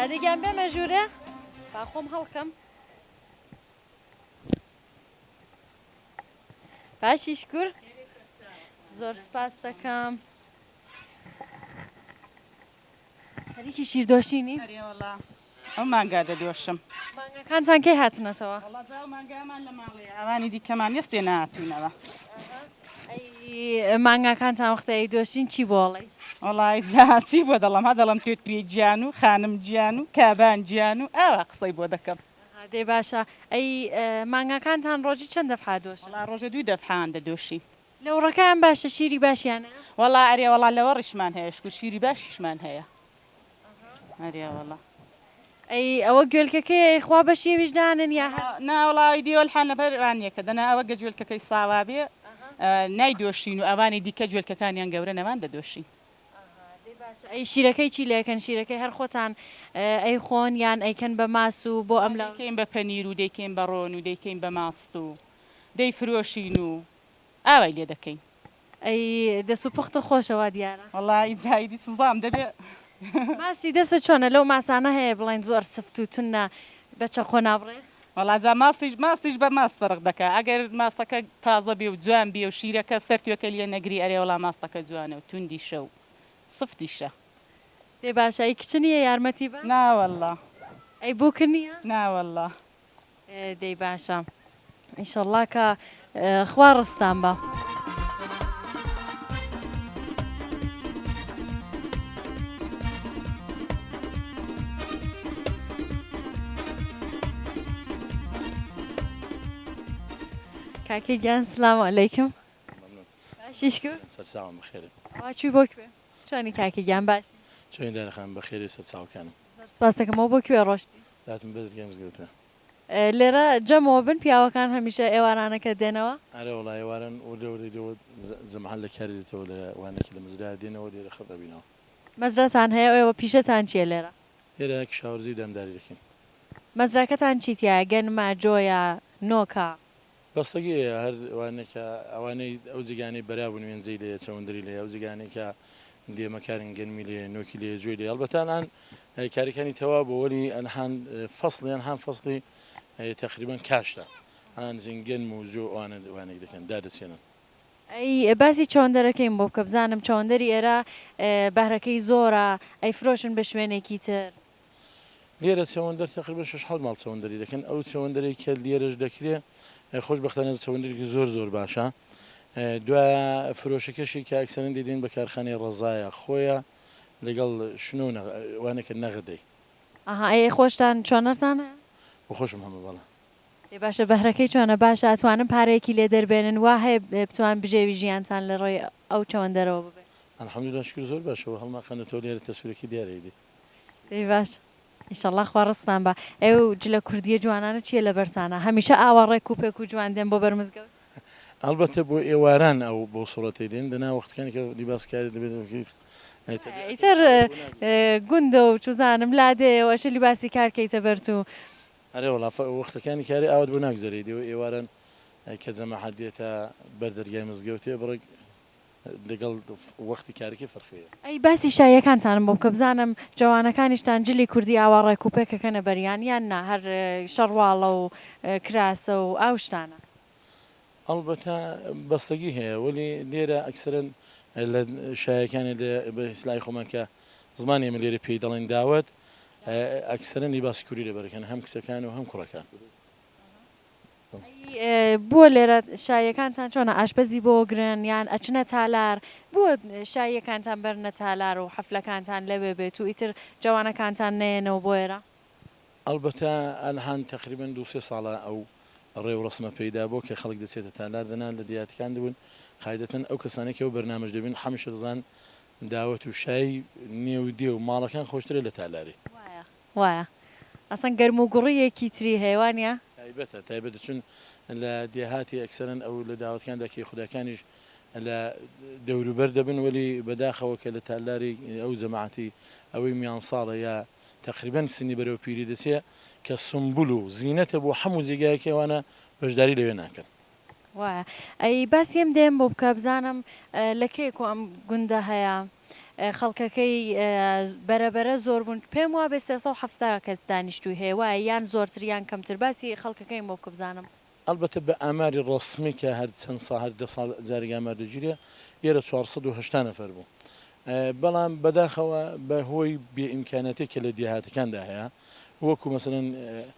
دادەگیان بێمە ژوورێ با خۆم هەڵکەم باشی شکور زۆر سپاس دەکەم خەریکی شیردۆشینی ئەو مانگا دەدۆشم. مانگاکانتان کەی هاتنەتەوە؟ وەڵا جا ئەو مانگایەمان لە ماڵەیە، ئەوانی دیکەمان نیە ستێ نەهاتووینەوە. ئەی مانگاکانتان وەختێ ئەیدۆشین چی بۆ ئەڵێی؟ وەڵای جا چی بۆ دەڵێم، هە دەڵێم توێت پێی گیان و خانم گیان و کابان گیان و ئاوا قسەی بۆ دەکەم. دەی باشە ئەی مانگاکانتان ڕۆژی چەند دەفعە دۆشن؟ وەڵا ڕۆژێ دوو دەفعەیان دەدۆشین. لەوڕەکەیان باشە شیری باشیان هەیە؟ وەڵا ئەرێ وەڵا لەوەڕیشمان هەیە شکور شیری باشیشمان هەیە. ئەریاوەڵا ئەی ئەوە گوێلکەکەی خوا بەشی ئەویش دانن یا ناوڵاوی دیوەلحان لەبەر رانیەکە دەنا ئەوە گە جوێلکەکەی ساوا بێ نای دۆشین و ئەوانی دیکە جوێلکەکانیان گەورە نەمان دەدۆشین ئەی شیرەکەی چی لەکەن شیرەکەی هەر خۆتان ئەی خۆن یان ئەیکەن بە ماس و بۆ ئەم لەکەین بە پەنیر و دەیکەین بە ڕۆن و دەیکەین بە ماست و دەیفرۆشین و ئاوای لێ دەکەین. ئەی دەس و پوختە خۆشە وا دیارە. وەڵا ی زایدی سوزام دەبێ. ماسی دەستت چۆنە لەو ماسانە هەیە بڵێن زۆر سفت و تونە بە چەقۆ نابڕێ؟ وەڵا جا ماستیش ماستیش بە ماست فەرق دەکا ئەگەر ماستەکە تازە بێ و جوان بێ و شیرەکە سەر توێکە لیە نەگری ئەرێ وەڵا ماستەکە جوانە و توندیشە و سفتیشە. دەی باشە ئەی کچ نیە یارمەتی بە. ناوەڵا. ئەی بووک نیە. ناوەڵا. دەی باشە ئیشەڵڵا کە خوا ڕستان بە. کاکە گیان سلام علیکم باشی شکر سەرچاوم بخێرێ وا چوی بۆ کوێ چۆنی کاکە گیان باش چۆنی دایە خان بەخێرێ سەرچاوکانم زۆر سپاست دەکەم ئەوە بۆ کوێ ڕۆشتی؟ هاتم بەر گێمز گەوتە. لێرە جەمەوە بن پیاوەکان هەمیشە ئێوارانەکە دێنەوە؟ ئەرێ وەڵا ئێواران و لەورەی لەوە جەمعان لە کاری دێتەوە لە وانەکی لە مەزرایە دێنەوە لێرە خڕ دەبینەوە. مەزراتان هەیە و ئێوە پیشەتان چیە لێرە؟ لێرە کشاوەرزی و دامداری دەکەین. مەزراکەتان چی تیایە گەنمە، جۆیە، نۆکە؟ بەستەگی هەیە هەر وانە کە ئەوانەی ئەو جێگانەی بەرابوون وێنجەی لێیە چەوندری لێ ئەو جێگانەی کە دێمە کارن گەنمی لێ نۆکی لێ جوێ لێ هەڵبەتان ئان کاریکانی تەوا بۆ وەلی ئەنهان فەسڵیان هەم فەسڵی تقریبان کاشتە ئان جن گەنم و جۆ ئەوانە وانێک دەکەن دادەچێنن ئەی باسی چەوەندەرەکەیم بۆ بکە بزانم چەوەندەری ئێرە بەهرەکەی زۆرە ئەیفرۆشن بە شوێنێکی تر. لێرە چەوەندەر تەقریبەن شەش حەوت ماڵ چەوەندەری دەکەن ئەو چەوەندەرەی کە لێرەش دەکرێ خۆشبەختانە چەوەندەرێکی زۆر زۆر باشە دوای فرۆشەکەشی کە ئەکسەرەن دەدەین بە کارخانەی ڕەزایە خۆیە لەگەڵ شنۆ وانەکە نەغدەی ئەها ئەی خۆشتان چۆنەرتان هەیە؟ بەخۆشم هەمە بەڵە ئێ باشە بەهرەکەی چۆنە باشە ئەتوانن پارەیەکی لێ دەربێنن وا هەیە بتوان بژێوی ژیانتان لە ڕێی ئەو چەوەندەرەوە ببێت الحمدلله شکر زۆر باشەوە هەڵناخەنەتەوە لێرە تەسویرەکەی دیارە ئیدی دەی باشە ئیشەڵا خوا ڕزقتان با ئێ و جلە کوردیە جوانانە چیە لەبەرتانە هەمیشە ئاوا ڕێک و پێک و جوان دێن بۆ بەر مزگەوت. ئەڵبەتە بۆ ئێواران ئەو بەو سوڕەتەی دێن دەنا وەختەکانی کە لیباس کاری دەبێت بکەیت ئیتر گوندە و چوزانم لادێیەوە ئەشێ لیباسی کار کەیتە بەرت و ئەرێ وەڵا وەختەکانی کاری ئاوات بۆ ناگوزەرێی دێ و ئێواران کە جەماحەت دێتە بەر دەرگای مزگەوتێ بڕێک لەگەڵ وەختی کارەکەی فەرقی هەیە. ئەی باسی شاییەکانتانم بۆ بکە بزانم جەوانەکانیشتان جلی کوردی ئاوا ڕێک و پێک ئەکەنە بەریان یان نا هەر شەڕواڵە و کراسە و ئاو شتانە؟ ئەڵبەتە بەستەگی هەیە وەلی لێرە ئەکسەرەن لە شایەکانی لە بە ئیسلاحی خۆمان کە زمانی ئێمە لێرە پێی دەڵێن داوەت ئەکسەرەن لیباسی کوردی لەبەر ئەکەن هەم کچەکان و هەم کوڕەکان. ئەی بۆ لێرە شاییەکانتان چۆنە ئاشپەزی بۆ گرن یان ئەچنە تالار بۆ شاییەکانتان بەرنە تالار و حەفلەکانتان لەوێ بێت و ئیتر جەوانەکانتان نەیەنەوە بۆ ئێرە؟ ئەڵبەتە ئەلهان تەقریبەن دوو سێ ساڵە ئەو ڕێوڕەسمە پەیدا بووە کە خەڵک دەچێتە تالار دەنا لە دێهاتەکان دەبن قاعیدەتەن ئەو کەسانەی کە ئەو بەرنامەش دەبین حەمشر زان داوەت و شای نێو دێ و ماڵەکان خۆشترە لە تالاری. وایە ئەسڵەن گەرم و گوڕی یەکی تری هەیە وانیە؟ تایبەتە تایبەتە چون لە دێهاتی ئەکسەرەن ئەو لە داوەتکاندا کەیخوداکانیش لە دەوروبەر دەبن وەلی بەداخەوە کە لە تالاری ئەو جەماعەتی ئەوەی میان ساڵە یا تەقریبەن سنی بەرەو پیری دەچێ کە سومبول و زینەتە بۆ حەموو جێگایەکی ئەوانە بەشداری لەوێ ناکەن. وایە ئەی باسی ئەم دێم بۆ بکە بزانم لە کێکۆ ئەم گوندە هەیە خەڵکەکەی بەرەبەرە زۆر بوون پێم وا بێ 370 کەس دانیشتوی هەیە وایە یان زۆرتریان کەمتر باسی خەڵکەکەی بۆ بکە بزانم. ئەڵبەتە بە ئاماری ڕەسمی کە هەر چەند ساڵ هەر دە ساڵ جارێک ئامار دەگیرێ لێرە چوار سەد و هەشتا نەفەر بوو بەڵام بەداخەوە بە هۆی بێ ئیمکاناتی کە لە دێهاتەکاندا هەیە وەکو مەسەلەن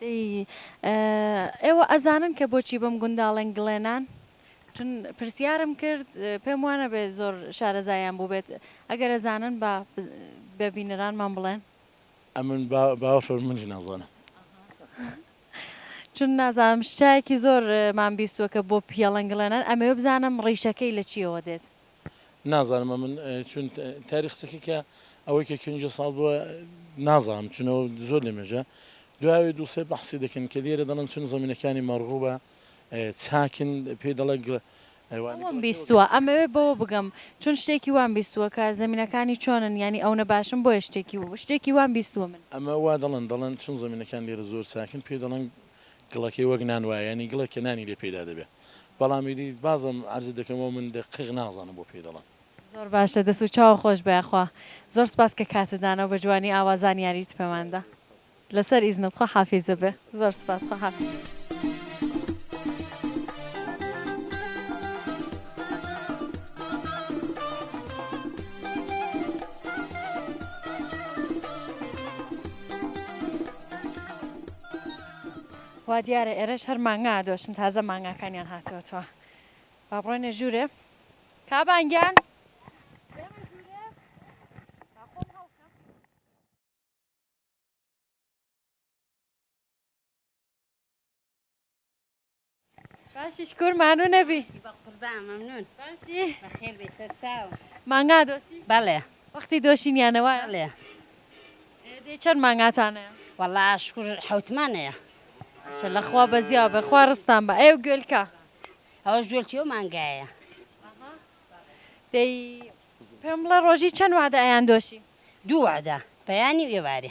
دەی ئێوە ئەزانن کە بۆچی بەم گونداڵەن گڵێنان؟ چون پرسیارم کرد پێم وانەبێ زۆر شارەزایان بووبێت، ئەگەر ئەزانن با بە بینەرانمان بڵێن. ئەمن باوەشۆر منیش نازانم. چون نازانم شتایەکی زۆرمان بیستووە کە بۆ پییەڵەن گڵێنان، ئەمەوێ بزانم ڕیشەکەی لە چییەوە دێت؟ نازانم ئەمن چون تاری قسەکە کە ئەوەی کە کەنجە ساڵ بووە نازانم چونەوە زۆر لە مێژە دوای دووسێ بەحسی دەکەن کە لێرە دەڵن چون زمینەکانی مەڕغوبە چاکن پێ دەڵێ ئەوەم بیستووە ئەمەوێ بەوە بگەم چون شتێکی وام بیستووە کە زمینەکانی چۆنن ینی ئەونە باشم بۆیە شتێکی شتێکی وام بیستووە من ئەمە وا دەڵن دەڵن چون زمینەکان لێرە زۆر چاکن پێ دەڵن گڵەکەی وەک نان وایە یانی گڵێک کە نانی لێ پەیدا دەبێ بەڵام ئیدی بازم عەرزت دەکەمەوە من دە قیق نازانم بۆ پێی دەڵێن. زۆر باشە دەس و چاوە خۆش بێ یاخوا زۆر سپاس کە کاتت داناو بە جوانی ئاوا زانیاریت پێمان دا لەسەر ئیزنت خوا حافیز بێ زۆر سپاس خوا حافیز. وادیارە ئێرەش هەر مانگا ئەدۆشن تازە مانگاکانیان هاتوەتەوە با بڕۆینە ژوورێ کابانگیان باشی شکور مانوو نەبی مانگا دۆشی بەڵێ وەختی دۆشینیانەوە لێ دێ چەند مانگاتانە وەڵا شکور حوتمانەیە شە لەخوا بەزیا بەخوا ڕستان بە ئەو گوێلکە ئەوەش جوێلکی و مانگایە دەی پێم بڵە ڕۆژی چەند وادە ئەیان دۆشی دووعدا پەیانی و ئێوارێ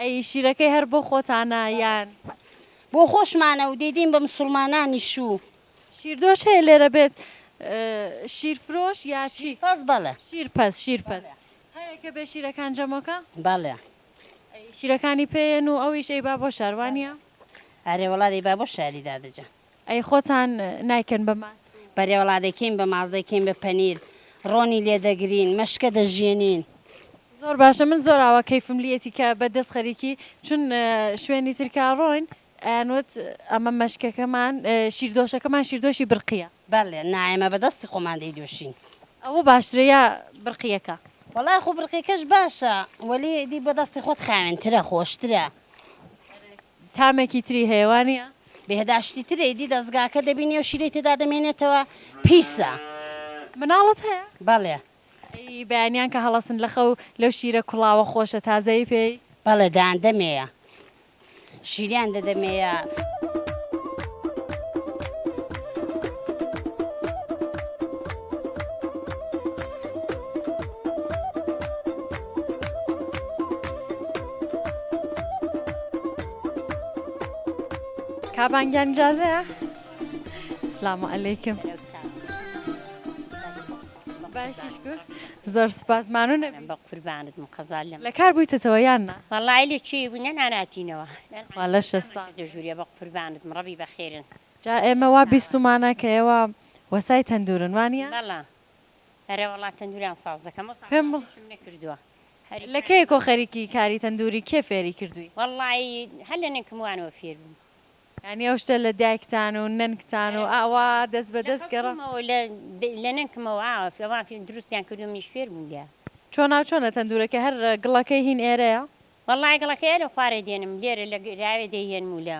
ئەی شیرەکەی هەر بۆ خۆتانە یان. بۆ خۆشمانە و دەیدەین بە مسوڵمانانیش و. شیردۆش هەیە لێرە بێت شیرفرۆش یا چی؟ شیرپەز بەڵێ. شیرپەز شیرپەز هەیە کە بێ شیرەکان جەمۆکە؟ بەڵێ. شیرەکانی پێیەن و ئەویش ئەیبا بۆ شار وانیە؟ ئارێ وەڵا دەیبا بۆ شاری دادە جان. ئەی خۆتان نایکەن بە ماست و. بەرێوەڵا دەیکەین بە ماست دەیکەین بە پەنیر ڕۆنی لێ دەگرین مەشکە دەژیەنین. زۆر باشە من زۆر ئاوا کەیفم لیەتی کە بە دەست خەریکی چون شوێنی تر کا ڕۆین ئەیانوت ئەمە مەشکەکەمان شیردۆشەکەمان شیردۆشی برقیە. بەلێ نا ئێمە بە دەستی خۆمان دەیدۆشین. ئەوە باشترە یا برقیەکە. وەڵا خۆ برقیەکەش باشە وەلی ئیدی بە دەستی خۆت خاوێنترە خۆشترە. تامێکی تری هەیە وانیە؟ بێهداشتی ترە ئیدی دەزگاکە دەبینی ئەو شیرەی تێدا دەمێنێتەوە پیسە. مناڵت هەیە؟ بەڵێ. ئەیی بەیانیان کە هەڵەسن لە خەو لەو شیرە کوڵاوە خۆشە تازەی پێی؟ بەڵێ دەیان دەمێیە شیریان دەدەمێیە. کابان گیان جازەیە سلام علیکم باشی شکر زۆر سپاس مانو نەبی بە قوربانت مقەزال لەم لە کار بوویتەوە یان نا وەڵای لە چی بوو نەناناتینەوە والە شە ساڵ دەژووریە بە قوربانت مڕەبی بەخێرن جا ئێمە وا بیستمانە کە ئێوە وەسای تەندورن وانە بەڵا ئەرێ وەڵا تەندوریان ساز دەکەم ئەو ساڵە سازیشم نەکردوە. لە کەیەکۆ خەریکی کاری تەندوری کێ فێری کردوی؟ وەڵایی هەر لە نەنکم وانەوە فێر بوم. یانی ئەو شتە لە دایکتان و نەنکتان و ئاوا دەست بە دەست گەڕا؟ لە خەوتومەوە لە نەنکمەوە ئاوا دروستیان کردوە منیش فێر بوم لێیان. چۆنا چۆنە تەندورەکە هەر گڵەکەی هین ئێرەیە؟ وەڵای گڵەکەی ئەرێ خوارێ دێنم لێرە لە گراوێ دەیهێنم و لە.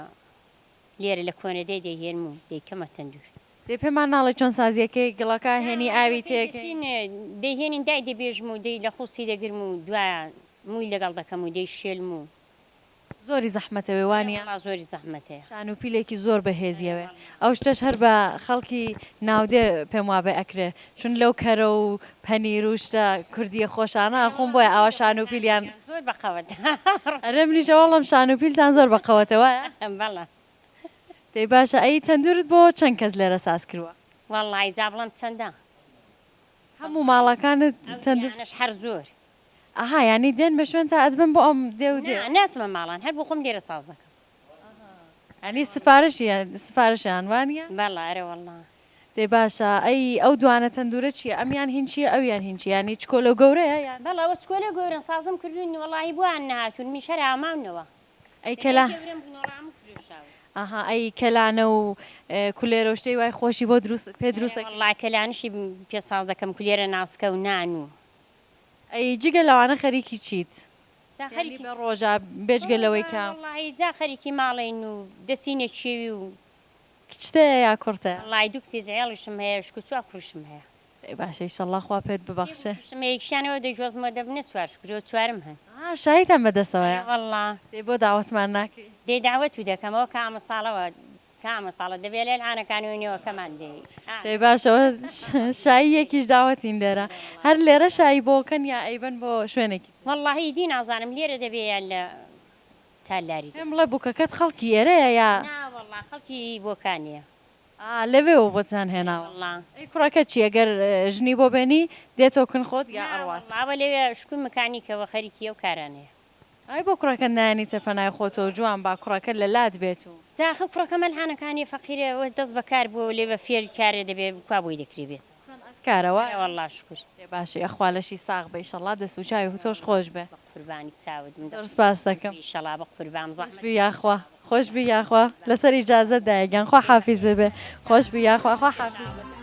لێرە لە کۆنە دەی دەیهێنم و دەیکەمە تەندوور. دەی پێمان ناڵێی چۆن سازییەکەی گڵەکە هێنی ئاوی تێکەی؟ دەیهێنین دای دەبێژم و دەی لە خوڵچی دەگرم و دوایان مووی لەگەڵ دەکەم و دەیشێلم و. زۆری زەحمەتە وێ وانیە؟ ئەرێ وەڵا زۆری زەحمەتە. شان و پیلێکی زۆر بەهێزیە وێ. ئەو شتەش هەر بە خەڵکی ناودێ پێم وابێ ئەکرێ. چون لەو کەرە و پەنیر و شتە کوردیە خۆشانە ئەخۆن بۆیە ئاوا شان و پیلیان زۆر بە قەوەت ئەرێ منیش ئەوە ئەڵێم شان و پیلتان زۆر بە قەوەتە وایە بەڵێ دەی باشە ئەی تەندورت بۆ چەند کەس لێرە ساز کرووە؟ وەڵڵاهی جا بڵێم چەندە هەموو ماڵەکانت تەندور ئەوجیانەش هەر زۆر ئەها یانی دێن بە شوێنتا ئەتبەن بۆ ئەم دێ و دێ نا ناچمە ماڵان هەر بۆ خۆم لێرە ساز دەکەم یانی سفارشیان سفارشیان وانیە؟ بەڵێ ئەرێ وەڵڵا دەی باشە ئەی ئەو دوانە تەندورە چیە ئەمیان هینچیە ئەویان هینچی یانی چکۆلەو گەورەیە یان. بەڵێ ئەوە چکۆلەو گەورەن سازم کردوونی وەڵاهی بۆیان نەهاتوون منیش هەر ئاماونەوە ئەی کەلا لەلای گەورەم بوون وەڵا هەموو فرۆشراون. ئەها ئەی کەلانە و کولێرەو شتێی وای خۆشی بۆ دروست پێ بەڵێ دروست ئەکەی. وەڵا کەلانیشی پێ ساز دەکەم کولێرە ناسکە و نان و. ئەی جگە لەوانە خەریکی چیت جا یانی خەریکی بە ڕۆژا بێجگە لەوەی بەڕۆژا کە. وەڵاهی جا خەریکی ماڵێین و دەچینە کێوی و. کچتەیە یا کوڕتە؟ وەڵای دوو کچی زحێڵیشم هەیە شکو چوار کوڕیشم هەیە. ئەی باشە ئیشەڵڵا خوا پێت ببەخشێ. سێ کوڕیشم هەیە یەکشیان ئەوە دەیجۆزم و دەبنە چوار شکو جۆ چوارم هەن. ها شاییتان بەدەستەوەیە. ئەرێ وەڵڵا. دەی بۆ داوەتمان ناکەی. دەی داوەتو دەکەم ئەوە کە ئامساڵەوە کە ئامساڵە دەبێ لە العانەکانی و نێوەکەمان بێی. دەی باشە وە شایی یەکیش داوەتین لێرە هەر لێرە شایی بۆکەن یا ئەیبەن بۆ شوێنێکی تر. وەڵڵاهی ئیدی نازانم لێرە دەبێ یا لە. تالاری. پێم بڵێ بوکەکەت خەڵکی ئێرەیە یا؟ نا وەڵا خەڵکی بۆکانیە. ئا لەوێوە بۆتان ئەرێ هێناوە. وەڵا. ئەی کوڕەکەت چیە گەر ژنی بۆ بێنی دێتۆ کن خۆت یا نا ئەڕوات؟ وەڵا ئەوە لەوێ شکوی مکانیکەوە خەریکی ئەو کارانەیە. ئای بۆ کوڕەکەت نایەنیتە پەنای خۆتۆ و جوان با کوڕەکەت لە لات بێت و. جا ئەخە کوڕەکەم ئەلهانەکانیە فەقیرە ئەوە دەست بەکار بوە و لەوێ فێری کارێ دەبێ کوا بۆی دەکرێ بێت. سەنعەت کارە وایە؟ ئەرێ واللە شوکر. ئێ باشی ئەخوا لەشی ساغ بئ ئیشەڵا دەست وچاوی تۆش خۆش بئ. بەقوربانی چاوت من زۆر سپاست دەکەم. بئ ئیشەڵا بەقوربان زەحمەت نەبئ. خۆشبی یاخوا خۆشبی یاخوا لەسەر ئیجازەت دایە گیان خوا حافیزت بئ خۆشبی یاخوا خوا حافیزت بئ.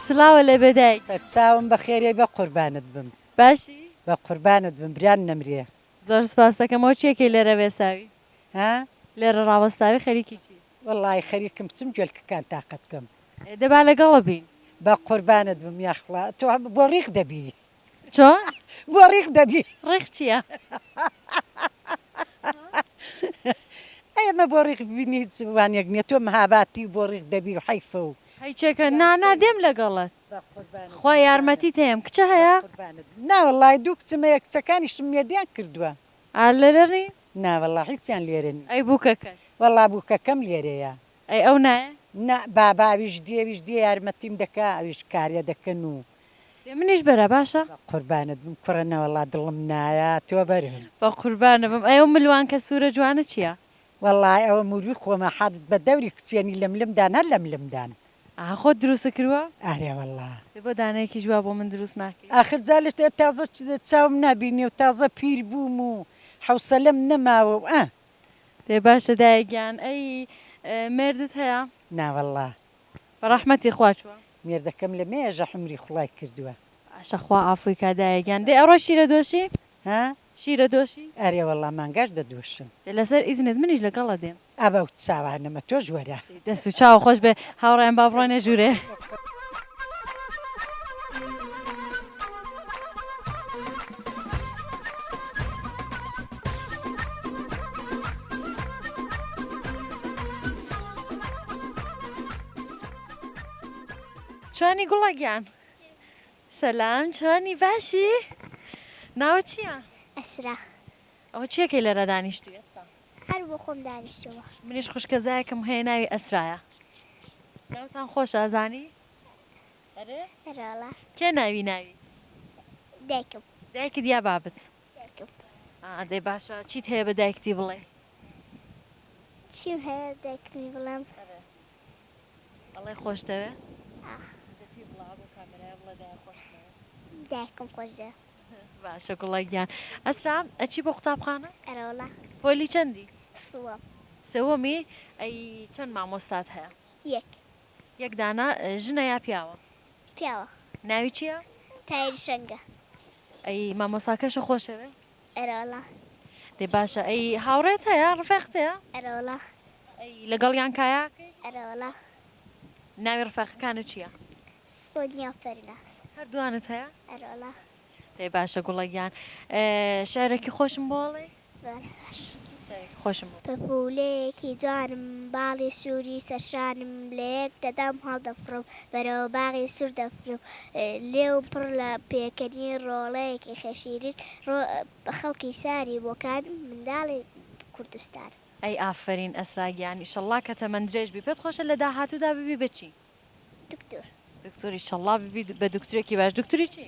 سڵاوە لە بێ دایک. سەرچاوم بەخێریەی بە قوربانت بم. باشی؟ بە قوربانت بم بران نەمرێ. زۆر سپاست دەکەم ئەو چیە کەی لێرە وێساوی؟ ها؟ لێرە ڕاوەستاوی خەریکی چی؟ وەڵاهی خەریکم بچم جۆلکەکان تاقە بکەم. ئێ دە با لەگەڵە بین. بە قوربانت بم یاخوا تۆ بۆ ڕیق دەبی. چۆ بۆ ڕیق دەبی ڕیق چیە ئەی ئەمە بۆ ڕیق بینی هیچ وانێک نیە تۆ مەهاباتی و بۆ ڕیق دەبی و حەیفە و هیچێکە نانا دێم لەگەڵت خوا یارمەتی تێم کچە هەیە ناوەڵی دوو کچمەیە کچەکانیشتم مێردیان کردووە ئالەرەنی ناوەڵا هیچیان لێرە ئەی بووکەکە وەڵا بووکەکەم لێرەیە ئەی ئەو نایە؟ نا بابە ئەویش دێ ئەویش دێ یارمەتیم دەکا ئەویش کارێ دەکەن و. دێ منیش بەرە باشە. بەقوربانت بم کوڕە نەوەڵا دڵم نایە تۆ بەرم. بەقوربانە بم ئەی ئەو ملوانکە سورە جوانە چیە؟ وەڵا ئەوە موروی خۆمە حەدت بە دەوری کچێنی لم لم دان هەر لم لم دان. ئەها خۆت دروستت کروە؟ ئەرێ وەڵا. دێ بۆ دانەیەکیش وا بۆ من دروست ناکەی؟ ئاخر جا لە تازە چاوم نابینێ و تازە پیر بووم و حەوسەلەم نەماوە و ئە. ئێ باشە دایە گیان ئەی مێردت هەیە؟ نا واللە. بە ڕەحمەتی خوا چووە؟ مێردەکەم لە مێژە حومری خوڵای کردووە. باشە خوا عافووی کا دایە گیان. دەی ئەڕۆی شیرە دۆشی؟ ها؟ شیرە دۆشی؟ ئەرێ واللە مانگاش دەدۆشم. دە لەسەر ئیزنت منیش لەگەڵت دێم. ئا با و چاوانەمە تۆش وەرە. دەست و چاو خۆش بێ هاوڕێیان با بڕۆنێ ژوورێ. چۆنی گوڵە گیان سەسلام چۆنی باشی ناوە چییە؟ ئەسرا ئەوە چیە کەی لەرا دانیشتوی ئەسرا. هەر بۆ خۆم دانیشتومە. منیش خوشکەزایەکم هەیە ناوی ئەسرایە. ناوتان خۆشە ئەزانی؟ ئەرێ؟ ئەرێ وەڵا. کێ ناوی ناوی؟ دایکم. دایکت یا بابت؟ دایکم. ئا دەی باشە چیت هەیە بە دایکتی بڵێی؟ چیم هەیە دایکمی بڵێم؟ ئەرێ. ئەڵێ خۆش دەوێ؟ ئا. دە پێی بڵێ ئەبۆ کامێرایا بڵێ دایە خۆشت دەوێ. دایکم خۆش دەوێ. باشە گوڵە گیان. ئەسرا ئەچی بۆ قوتابخانە؟ ئەرەوەڵا. پۆلی چەندی؟ سوەم. سوەمی؟ ئەی چەند مامۆستات هەیە؟ یەک. یەک دانە؟ ژنە یا پیاوە؟ پیاوە. ناوی چیە؟ تایر شەنگە. ئەی مامۆستاکەشە خۆشەوێ؟ ئەرەوەڵا. دەی باشە ئەی هاوڕێت هەیە ڕفێقت هەیە؟ ئەرەوەڵا. ئەی لەگەڵیان کایا ئەکەی؟ ئەرەوەڵا. ناوی ڕفێقەکانت چیە؟ سۆنیا و پەریناز. هەردووانت هەیە؟ ئەرەوەڵا. دەی باشە گوڵە گیان شعرێکی خۆشم بۆڵێی؟ بەڵێ باشە. خۆشم. پەپوولەیەکی جوانم باڵی سووری سەر شانم لە یەک دەدام هەڵدەفڕم بەرەوە باغی سوور دەفرم لێوم پڕ لە پێکەنی ڕۆڵەیەکی خێشیرین ڕۆ خەڵکی شاری بۆکان منداڵی کوردستانم. ئەی ئافەرین ئەسرا گیان ئیشەڵڵا کە تەمەن درێژ بی پێت خۆشە لە داهاتوودا ببی بە چی؟ دکتور. دکتور ئیشەڵڵا ببی بە دکتورێکی باش دکتوری چی؟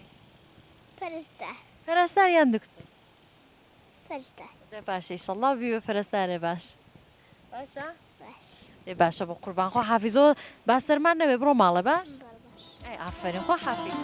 پەرستار. پەرستار یان دکتور؟ پەرستار. دە باشە ئیشەڵا بی بە پەرستارێ باش باشە باش ئێ باشە بە قوربان خۆ حافیزۆ با سەرمان نەبێ بڕۆ ماڵە باش ئەی ئافرین خۆ حافیز.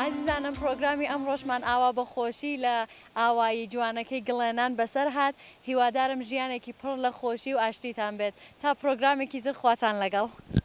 ئازیزانم پرۆگرامی ئەمڕۆشمان ئاوا بە خۆشی لە ئاوایی جوانەکەی گڵێنان بەسەر هات هیوادارم ژیانێکی پڕ لە خۆشی و ئاشتیتان بێت تا پرۆگرامێکی تر خواتان لەگەڵ.